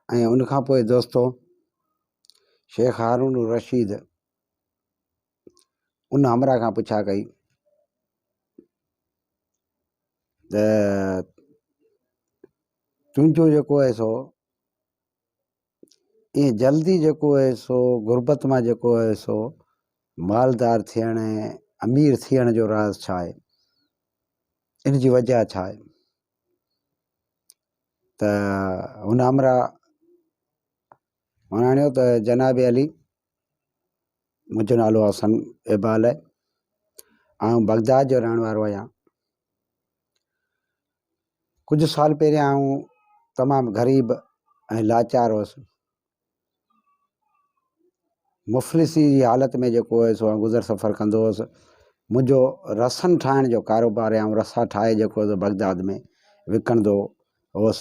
۽ ان کان پوء دوستو شيخ هارون الرشيد ان همراء کان پڇا ڪئي ته تنهنجو جيڪو اهي سو ايئن جلدي جيڪو آهي سو غربت مان جيڪو آهي سو مالدار ٿيڻ ۽ امير ٿيڻ جو راز ڇا آهي ان جي وجه ڇا آهي ته هن همراهه وڻاڻيو ته جناب علي منهنجو نالو حسن اقبال آهي آئون بغداد جو رهڻ وارو آهيان ڪجهه سال پهريان آئون تمام غريب ۽ لاچار هوس مفلسي جي حالت ۾ جيڪو هوس سو گذر سفر ڪندو هوس منهنجو رسن ٺاهڻ جو ڪاروبار آهي آئون رسا ٺاهي جيڪو بغداد ۾ وڪڻندو هوس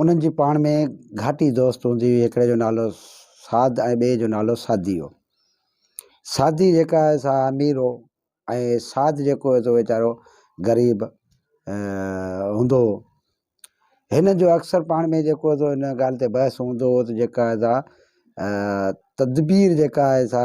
انهن جي پاڻ ۾ گهاٽي دوست هوندي هئي، هڪڙي جو نالو سعد ۽ ٻئي جو نالو سعدي هو. سعدي جيڪا آهي سا امير هو ۽ سعد جيڪو هو سو ويچارو غريب هوندو هو. هنن جو اڪثر پاڻ ۾ جيڪو هو سو ان ڳالهه تي بحث هوندو هو ته جيڪا آهي سا تدبير جيڪا آهي سا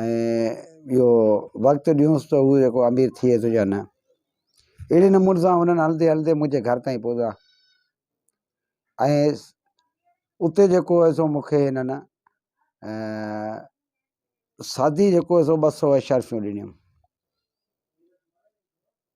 ۽ ٻيو وقت ڏيونس ته هو جيڪو امير ٿئي ٿو يا نه اهڙي نموني سان هن هلندي هلندي منهنجي گهر تائين پهتا ۽ اتي جيڪو هو سو مونکي هنن سادي جيڪو هو سو ٻه سو اشرفيون ڏنيون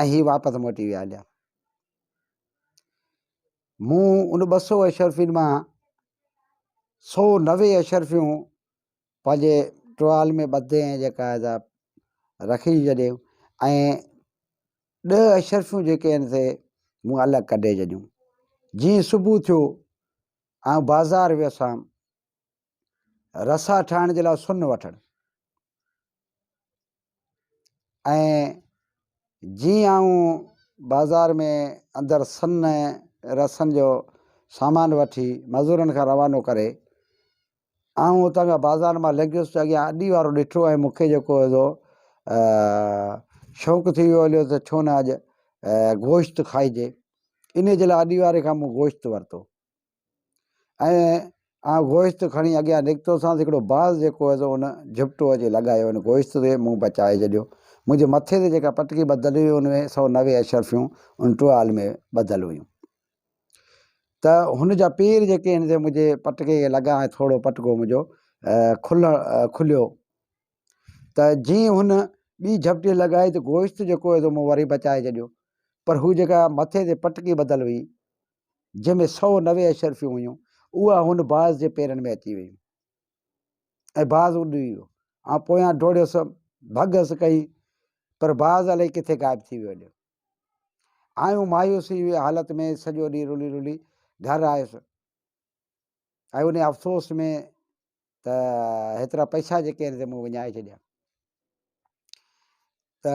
۽ هي واپس موٽي ويا هليا. مون ان ٻه سو اشرفين مان سو نوي اشرفيون پنهنجي ٽوال ۾ ٻڌي ۽ جيڪا آهي رکي ڇڏيون ۽ ڏهه اشرفيون جيڪي آهن سي مون الڳ ڪڍي ڇڏيون جيئن صبح ٿيو آئون بازار ويس هان رسا ٺاهڻ جي لاء سن وٺڻ ۽ جيئن آئون بازار ۾ اندر سن رسن جو سامان وٺي مزورن کان روانو ڪري آئون اتان کان بازار مان لنگهيس ته اڳيان اڏي وارو ڏٺو ۽ مون کي جيڪو هو شوق ٿي ويو هليو ته ڇو نه اڄ گوشت کائجي ان جي لاء اڏي واري کان مون گوشت ورتو ۽ آئون گوشت کڻي اڳيان نڪتوسانس، هڪڙو باز جيڪو هيس ان جهپٽو اچي لڳايو ان گوشت تي، مون بچائي ڇڏيو. منهنجي مٿي تي جيڪا پٽڪي ٻڌل هئي ان ۾ سؤ نوي اشرفيون ان ٽوال ۾ ٻڌل هيون ته هن جا پير جيڪي هن تي منهنجي پٽڪي کي لڳا ۽ ٿورڙو پٽڪو منهنجو کلڻ کليو ته جي هن ٻي جهپٽي لڳائي ته گوشت جيڪو هيس مون وري بچائي ڇڏيو پر هو جيڪا مٿي تي پٽڪي ٻڌل هئي جنهن ۾ سؤ نوي اشرفيون هيون، اها هن باز جي پيرن ۾ اچي ويون ۽ باز اڏري ويو. آئون پويان ڊوڙيس، ڀڳس ڪئي، پر باز الائي ڪٿي غائب ٿي ويو هليو. آئون مايوسي جي حالت ۾ سڄو ڏينهن رلي رلي گهر آيس ۽ انهي افسوس ۾ ته هيترا پئسا جيڪي آهن سي مون وڃائي ڇڏيا. ته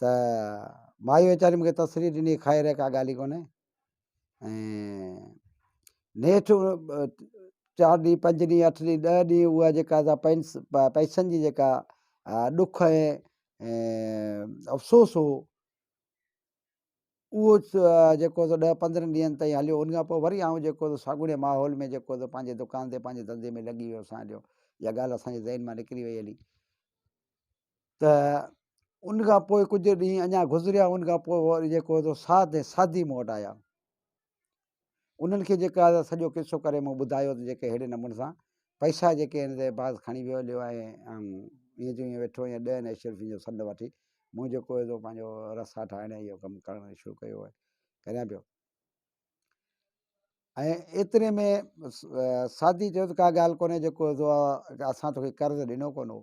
ته مائي ويچاري مون کي تسلي ڏني خير ھي ڪا ڳالھ ئي ڪونھي ۽ نيٺ چار ڏينھن پنج ڏينھن اٺ ڏينھن ڏھ ڏينھن اھا جيڪا سا پئنس پئسن جي جيڪا ڏک ۽ افسوس ھو اھو جيڪو سو ڏھ پندرھن ڏينھن تائين ھليو ان کان پوء وري آئون جيڪو سو ساڳوڻي ماحول ۾ جيڪو سو پنھنجي دڪان تي پنھنجي دھندي ۾ لڳي ويو سان جو اھا ڳالھ اسانجي ذھن مان نڪري وئي ھلي ته ان کان پوء ڪجهه ڏينهن اڃا گذريا ان کان پوء وري جيڪو هو ساڌ ۽ ساڌي مون وٽ آيا انهن کي جيڪا آهي سڄو قصو ڪري مون ٻڌايو ته جيڪي اهڙي نموني سان پئسا جيڪي آهن سي بعض کڻي ويو هليو آهي ۽ ائين جو ائين ويٺو ائين ڏهن اشرفين روپين جو سڏ وٺي مون جيڪو هو سو پنهنجو رسا ٺاهڻ ۽ اهو ڪم ڪرڻ شروع ڪيو آهي ڪريان پيو ۽ ايتري ۾ ساڌي چيو ته ڪا ڳالهه ڪونهي جيڪو هو سو اسان توکي قرض ڏنو ڪونه هو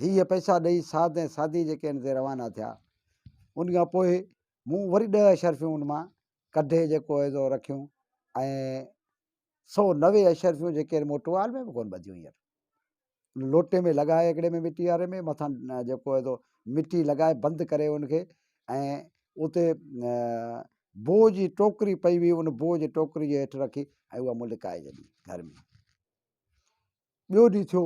هيء پئسا ڏئي سعد ۽ سعدي جي ڪين تي روانا ٿيا. ان کان پوء مون وري ڏهه اشرفيون ان مان ڪڍي جيڪو هيو سو رکيون ۽ سو نوي اشرفيون جيڪي موٽوال ۾ به ڪون ٻڌيون هينئر. ان لوٽي ۾ لڳائي هڪڙي ۾ مٽي واري ۾ مٿان جيڪو هيو سو مٽي لڳائي بند ڪري ان کي ۽ اتي بوء جي ٽوڪري پئي هئي ان بوء جي ٽوڪري جي هيٺ رکي ۽ اها مون لڪائي ڇڏي گهر ۾. ٻيو ڏينهن ٿيو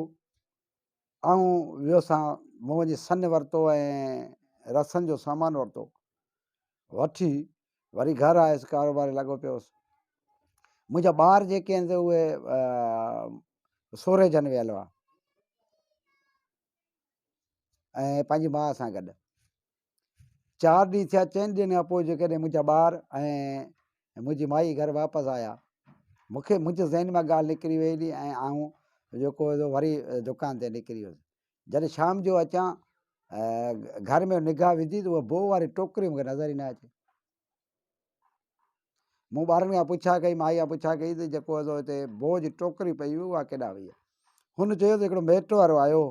آئون ويوسان مون وڃي سن ورتو ۽ رسن جو سامان ورتو وٺي وري گهر آيس ڪاروبار لڳو پيوس منهنجا ٻار جيڪي آهن سي اهي سورهي جن ويل هئا ۽ پنهنجي ماء سان گڏ چار ڏينهن ٿيا، چئن ڏينهن کان پوء جيڪڏهن منهنجا ٻار ۽ منهنجي مائي گهر واپس آيا، مون کي منهنجي ذهن مان ڳالهه نڪري وئي هلي ۽ آئون جيڪو هو وري دڪان تي نڪري ويس. جڏهن شام جو اچان گهر ۾ نگاهه وڌي ته اها بوء واري ٽوڪري مون کي نظر ئي نه اچي. مون ٻارن کان پڇا ڪئي، مائي کان پڇا ڪئي ته جيڪو هو هتي بوء جي ٽوڪري پئي هئي اها ڪيڏانهن وئي؟ هن چيو ته هڪڙو ميٽ وارو آيو هو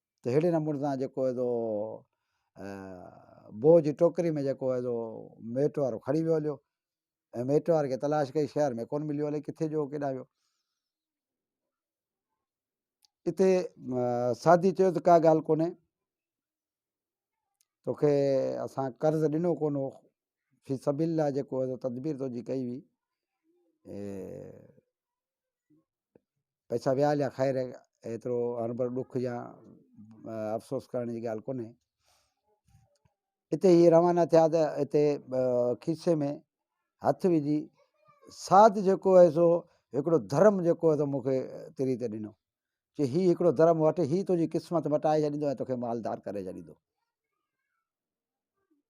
ته اهڙي نموني سان جيڪو هي سو بوء جي ٽوڪري ۾ جيڪو هي سو ميٽ وارو کڻي ويو هليو ۽ ميٽ واري کي تلاش ڪئي شهر ۾ ڪونه مليو الائي ڪٿي جو ڪيڏانهن ويو اتي سادي چيو ته ڪا ڳالهه ڪونهي توکي اسان قرض ڏنو ڪونه هو في سبيل لاء جيڪو هي سو تدبير تنهنجي ڪئي هئي پئسا ويا هليا خير ايترو هربر ڏک يا افسوس ڪرڻ جي ڳالهه ڪونهي اتي هي روانا ٿيا ته اتي کيسي ۾ هٿ وجھي ساٿ جيڪو هي سو هڪڙو ڌرم جيڪو هي سو مونکي تري تي ڏنو چي هي هڪڙو ڌرم وٺ هي تنهنجي قسمت مٽائي ڇڏيندو ۽ توکي مالدار ڪري ڇڏيندو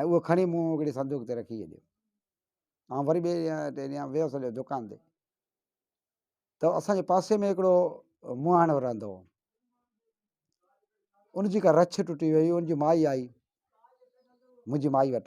۽ اهو کڻي مون هڪڙي صندوق تي رکي ڇڏيو. آئون وري ٻئي ڏينهن ٽئين ڏينهن ويس هليو دڪان تي ته اسان جي پاسي ۾ هڪڙو مهاڻو رهندو هو. ان جي ڪا رڇ ٽٽي وئي هئي، ان جي مائي آئي منهنجي مائي وٽ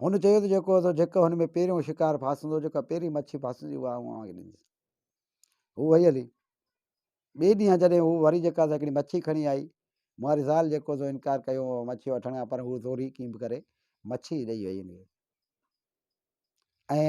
هن چيو ته جيڪو تو جيڪ هن ۾ پهريون شڪار ڦاسندو، جيڪا پهرين مڇي ڦاسندي اها آئون اوهان کي ڏيندس. هو وئي هلي. ٻئي ڏينهن جڏهن هو وري جيڪا سا هڪڙي مڇي کڻي آئي، مهاري زال جيڪو سو انڪار ڪيو هو مڇي وٺڻ کان پر هو زوري ڪيئن به ڪري مڇي ڏئي وئي هن کي ۽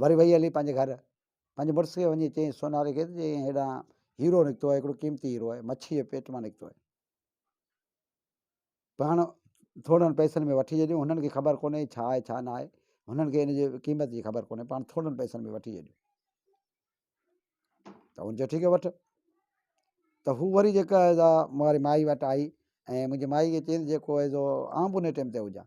وري وئي هلي پنهنجي گهر، پنهنجي مڙس کي وڃي چيائين سوناري کي ته چيائين هيڏانهن هيرو نڪتو آهي، هڪڙو قيمتي هيرو آهي، مڇيء جي پيٽ مان نڪتو آهي. پاڻ ٿورڙن پئسن ۾ وٺجي ڏيو، هنن کي خبر ڪونهي ڇا آهي ڇا نه آهي، هنن کي ان جي قيمت جي خبر ڪونهي، پاڻ ٿورڙن پئسن ۾ وٺجي ڏيو. ته هن چيو ٺيڪ آهي وٺ. ته هو وري جيڪا ماري مائي وٽ آئي ۽ منهنجي مائي کي چيائين جيڪو آهي سو آئون به ان ٽيم تي هجان،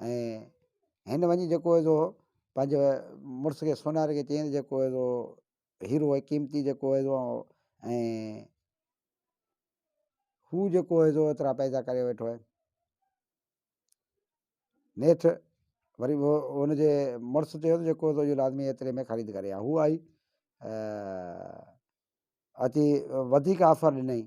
۽ هن وڃي جيڪو هيو سو پنهنجي مڙس کي سوناري کي چيائين جيڪو هيو سو هيرو ۽ قيمتي جيڪو هيو سو ۽ هو جيڪو هيو سو ايترا پئسا ڪري ويٺو آهي نيٺ وري هو هن جي مڙس چيو ته جيڪو هيو سو لازمي ايتري ۾ خريد ڪري آ هو آئي اچي وڌيڪ آفر ڏنائين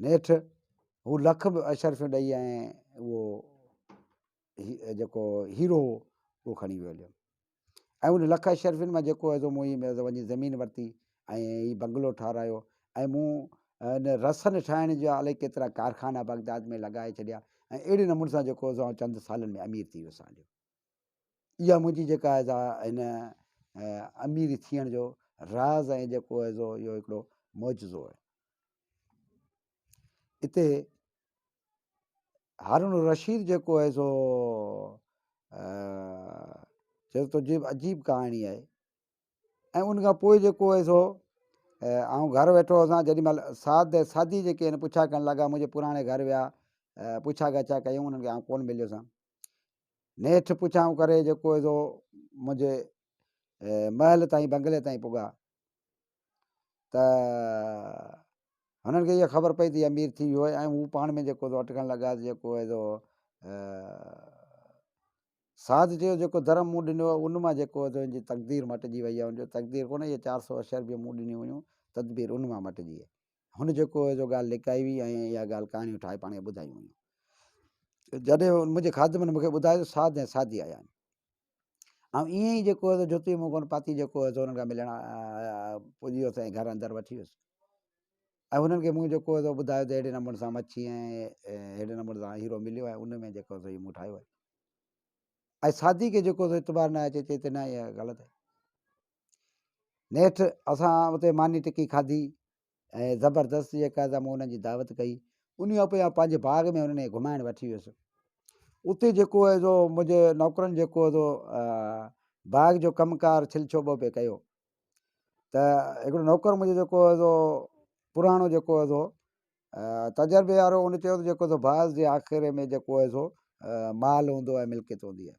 نيٺ هو لک به اشرفيون ڏئي ۽ اهو جيڪو هيرو هو اهو کڻي ويو هليو ۽ ان لک اشرفين مان جيڪو هيو مون هي وڃي زمين ورتي ۽ هي بنگلو ٺارايو ۽ مون ان رسن ٺاهڻ جا الائي ڪيترا ڪارخانا بغداد ۾ لڳائي ڇڏيا ۽ اهڙي نموني سان جيڪو چند سالن ۾ امير ٿي ويس هليو اها منهنجي جيڪا اهي سا هن امير ٿيڻ جو راز ۽ جيڪو اهي سو اهو هڪڙو معجزو آهي اتي هارون الرشيد جيڪو اهي سو چيو تو جيب عجيب ڪهاڻي آهي ۽ ان کان پوء جيڪو اهي سو آئون گهر ويٺو هوسان جڏهن مهل ساد ۽ سادي جيڪي آهن پڇا ڪرڻ لڳا منهنجي پراڻي گهر ويا پڇا ڳاڇا ڪيون انهن کي آئون ڪون مليو سان نيٺ پڇائون ڪري جي ڪوئي ذو منهنجي محل تائين بنگلي تائين پڳا ته هنن کي اها خبر پئي ته امير ٿي ويو ۽ هو پاڻ ۾ جيڪو ذو اٽڪڻ لڳا ته جيڪو هي ذو ساڌ چيو جيڪو درم مون ڏنو هو ان مان جيڪو هي ذو ان جي تقدير مٽجي وئي هي ان جو تقدير ڪونه هي چار سو اشربيون مون ڏنيون هيون تدبير ان مان مٽجي هي هن جيڪو هي جو ڳالهه لڪائي هئي ۽ اها ڳالهه ڪهاڻيون ٺاهي پاڻ کي ٻڌايون هيون. جڏهن منهنجي خادمن مون کي ٻڌايو ته ساڌ ۽ ساڌي آيا آهن. آئون ايئن ئي جيڪو هي جوتي منهن ڪونه پاتي جيڪو هي انهن کان ملڻ پڄي ويس ۽ گهر اندر وٺي ويس ۽ انهن کي مون جيڪو هي ٻڌايو ته اهڙي نموني سان مڇي ۽ اهڙي نموني سان هيرو مليو ۽ ان ۾ جيڪو هي مون ٺاهيو آهي ۽ ساڌي کي جيڪو اعتبار نه آهي چي چي ته نه اها ڳالهه نيٺ اسان اتي ماني ٽڪي کاڌي ۽ زبردست جيڪا مون انهن جي دعوت ڪئي ان کان پوء پنهنجي باغ ۾ انهن کي گھمائڻ وٺي ويس اتي جيڪو هو سو منهنجي نوڪرن جيڪو هو سو باغ جو ڪم ڪار ڇل ڇوٻو پي ڪيو ته هڪڙو نوڪر منهنجو جيڪو هو سو پراڻو جيڪو هو سو تجربي وارو ان چيو ته جيڪو سو باز جي آخر ۾ جيڪو هو سو مال هوندو آهي ملڪيت هوندي آهي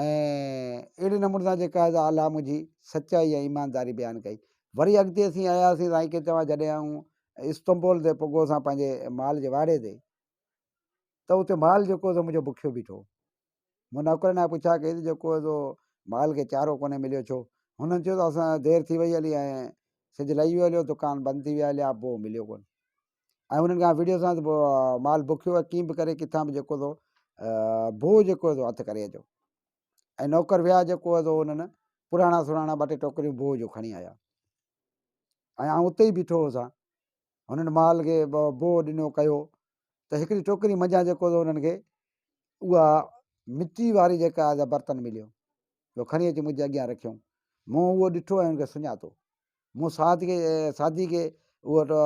۽ اهڙي نموني سان جيڪا ادا الله منهنجي سچائي ۽ ايمانداري بيان ڪئي. وري اڳتي اسين آياسين سائين کي چوان جڏهن آئون استنبول تي پڳو سان پنهنجي مال جي واڙي تي ته اتي مال جيڪو سو منهنجو بکيو بيٺو. مون نوڪرن کان پڇا ڪئي ته جيڪو سو مال کي چارو ڪونهي مليو ڇو؟ هنن چيو ته اسان دير ٿي وئي هلي ۽ سج لهي ويو هليو دڪان بند ٿي ويا هليا بوء مليو ڪونهي. ۽ انهن کان وڙهيو سان ته مال بکيو ۽ ڪيئن به ڪري ڪٿان به جيڪو ٿو بوء جيڪو ٿو هٿ ڪري اچو ۽ نوڪر ويا جيڪو ٿو انهن پراڻا سراڻا ٻه ٽي ٽوڪريون بوء جو کڻي آيا ۽ آئون اتي ئي بيٺو هوسان هنن مال کي بوء ڏنو ڪيو ته هڪڙي ٽوڪري منجهان جيڪو ٿو انهن کي اها مٽي واري جيڪا آهي برتن مليو جو کڻي اچي منهنجي اڳيان رکيو مون اهو ڏٺو ۽ ان کي سڃاتو مون سعد کي سعدي کي اهو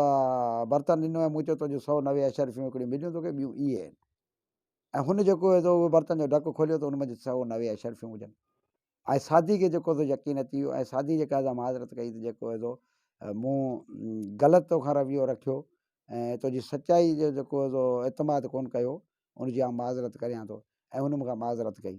برتن ڏنو ۽ مون چيو تنهنجون سؤ نوي اشرفيون هڪڙيون مليون توکي ٻيون اهي آهن ۽ هن جيڪو هو اهو برتن جو ڍڪ کوليو ته ان منجهه سؤ نوي اشرفيون هجن ۽ سعدي کي جيڪو هو يقين اچي ويو ۽ سعدي جي قاعده معذرت ڪئي ته جيڪو هو مون غلط توکان رويو رکيو ۽ تنهنجي سچائي جو جيڪو هو اعتماد ڪون ڪيو ان جي آن معذرت ڪريان ٿو ۽ هن مون کان معذرت ڪئي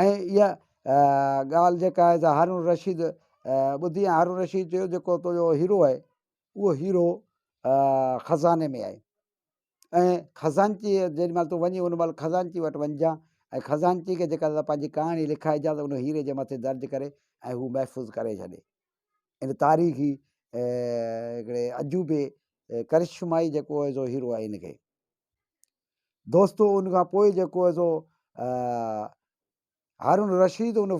۽ اها ڳالهه جيڪا آهي سا هارون الرشيد ٻڌي ۽ هارون الرشيد چيو جيڪو تنهنجو هيرو آهي اهو هيرو خزاني ۾ آهي ۽ خزانچيء جيڏي مهل تون وڃي ان مهل خزانچي وٽ وڃجان ۽ خزانچي کي جيڪا پنهنجي ڪهاڻي لکائجان ته ان هيري جي مٿي درج ڪري ۽ هو محفوظ ڪري ڇڏي ان تاريخي هڪڙي عجوبي ڪرشمائي جيڪو هيرو آهي ان کي دوستو ان کان پوء جيڪو هي سو هارون رشيد ان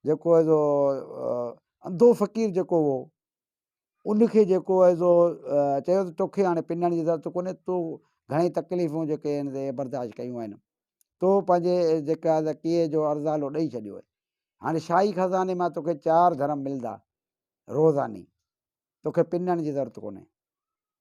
جيڪو هي سو انڌو فقير جيڪو هو ان کي جيڪو هي سو چيو ته توکي هاڻي پنڻ جي ضرورت ڪونهي تو گهڻي تڪليفون جيڪي آهن سي برداشت ڪيون آهن تو پنهنجي جيڪا ڪيئي جو ارزالو ڏئي ڇڏيو آهي هاڻي شاهي خزاني مان توکي چار درهم ملدا روزاني توکي پنڻ جي ضرورت ڪونهي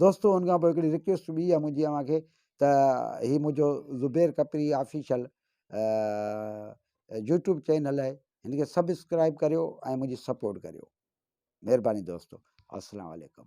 دوستو ان کان پوء هڪڙي رڪويسٽ ٻي آهي منهنجي اوهان کي ته هي منهنجو Zubair Khapri official YouTube channel آهي هن کي سبسڪرائب ڪريو ۽ منهنجي سپورٽ ڪريو مهرباني دوستو السلام علیڪم